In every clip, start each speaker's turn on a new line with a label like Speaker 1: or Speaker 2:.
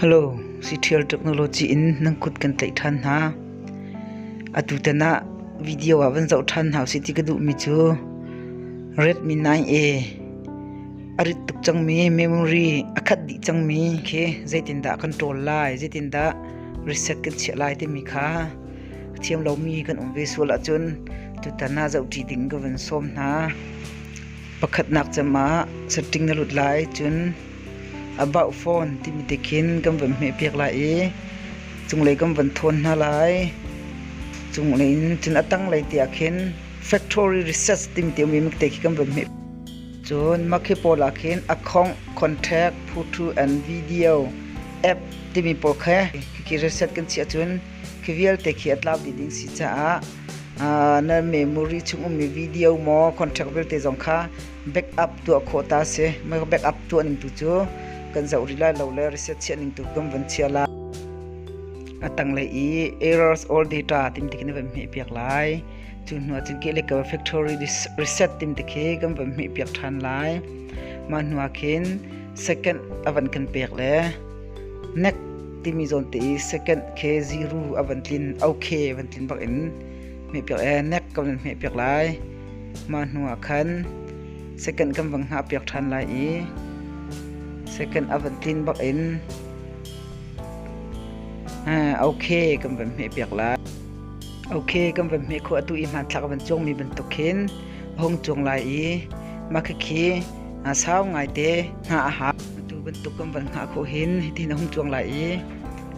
Speaker 1: Hello, Siṭhial Technology in nan kut kan tlaih ṭhan hna. Atutan ah video ah van zoh ṭhan hna usih ti ka duhmi cu Redmi 9A a rit tuk cangmi memory a khat dih cangmi khi zeitindah kan ṭawl lai, zeitindah reset kan chiah lai timi kha ka thiam lomi kan um ve sual ahcun tutan ah zoh ṭi ding ka van sawm hna. Pakhatnak cem ah setting na lut lai cun about phone timi te khin kan van hmehpiak lai i cunglei kan van thawn hna lai. Cunglei in cun a tanglei te ah khin factory research timi te um te khi kan van hmeh. Cun makhi pawl ah khin account, contact, photo and video app timi pawl kha khi research kan chiah cun khi vialte khi a tlau dih ding si caah na memory chung ummi video maw contract vialte zong kha backup tuah khawh ta si mei backup tuah ning tu cu kan zoh rih lai lo le reset chiah ning tu kan van chia la a tanglei i errors all data tim tikin van hme piak lai cu hnu cun ke le ka factory reset tim tikhi kan van hme piak than lai mah hnu khin second avan kan pek le Nek timi zawnte i second khe ziru a van tlin, okhe van tlin bak in hmehpiak ee nek kan van hmehpiak lai. Mah hnu ah khan second kan van hngah piak ṭhan lai i second a van tlin bak in okhe kan van hmehpiak lai. Okhe kan van hmeh khawh atu i hmanthlak a van cuangmi bantuk khin a hung cuang lai i mah khikhi sau ngaite hna a hak. Atu bantuk kan van hngah khawh hin hitin a hum cuang lai i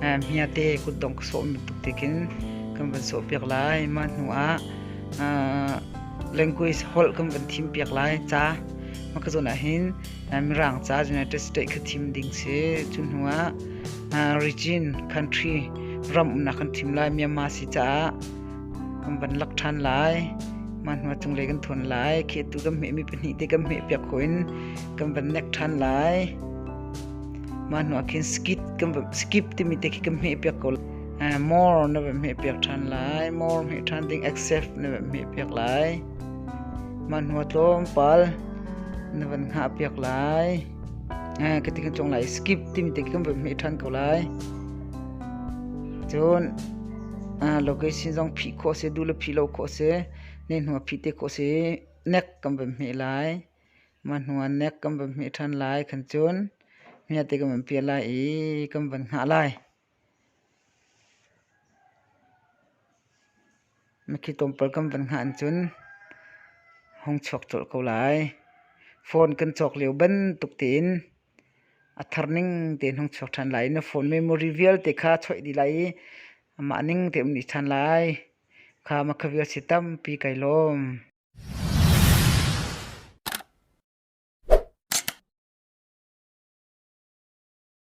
Speaker 1: hmiate kutdong ka sawm bantuk tekin kan van sawh piak lai. Mah hnu ah language holh kan van thim piak lai ca. Mah ka zawn ahhin Mirang ca United States kha thim ding si. Cu hnu ah region, country ram umnak kan thim lai Myanmar si caah kan van lak ṭhan lai mah hnuah cunglei kan thawn lai khehtu kan hmehmi pahnih te kan hmeh piak ko in kan van nek ṭhan lai mah hnuah khin skip kan skip timi te khi kan hmeh piak ko more na van hmeh piak ṭhan lai more hmeh ṭhan ding accept na van hmeh piak lai mah hnuah tlawmpal na van hngah piak lai ka ti kan chong lai skip timi te kan voi meh than ko lai cun location zong phih khawh se du le phih lo khawh se ne hnu phih te khawh se nek kan voi meh lai ma hnu nek kan voi meh than lai khan cun mia te kan voi pia lai i kan voi ngah lai Makhi tlawmpal kan van hngah ahcun hong chuak colh ko lai. Phone kan cawk lio bantuk tein a thar ning tein hong chuak ṭhan lai i na phone memory vialte kha choih dih lai i amah ning tein um dih ṭhan lai. Kha makha vialte tampi kai lawm.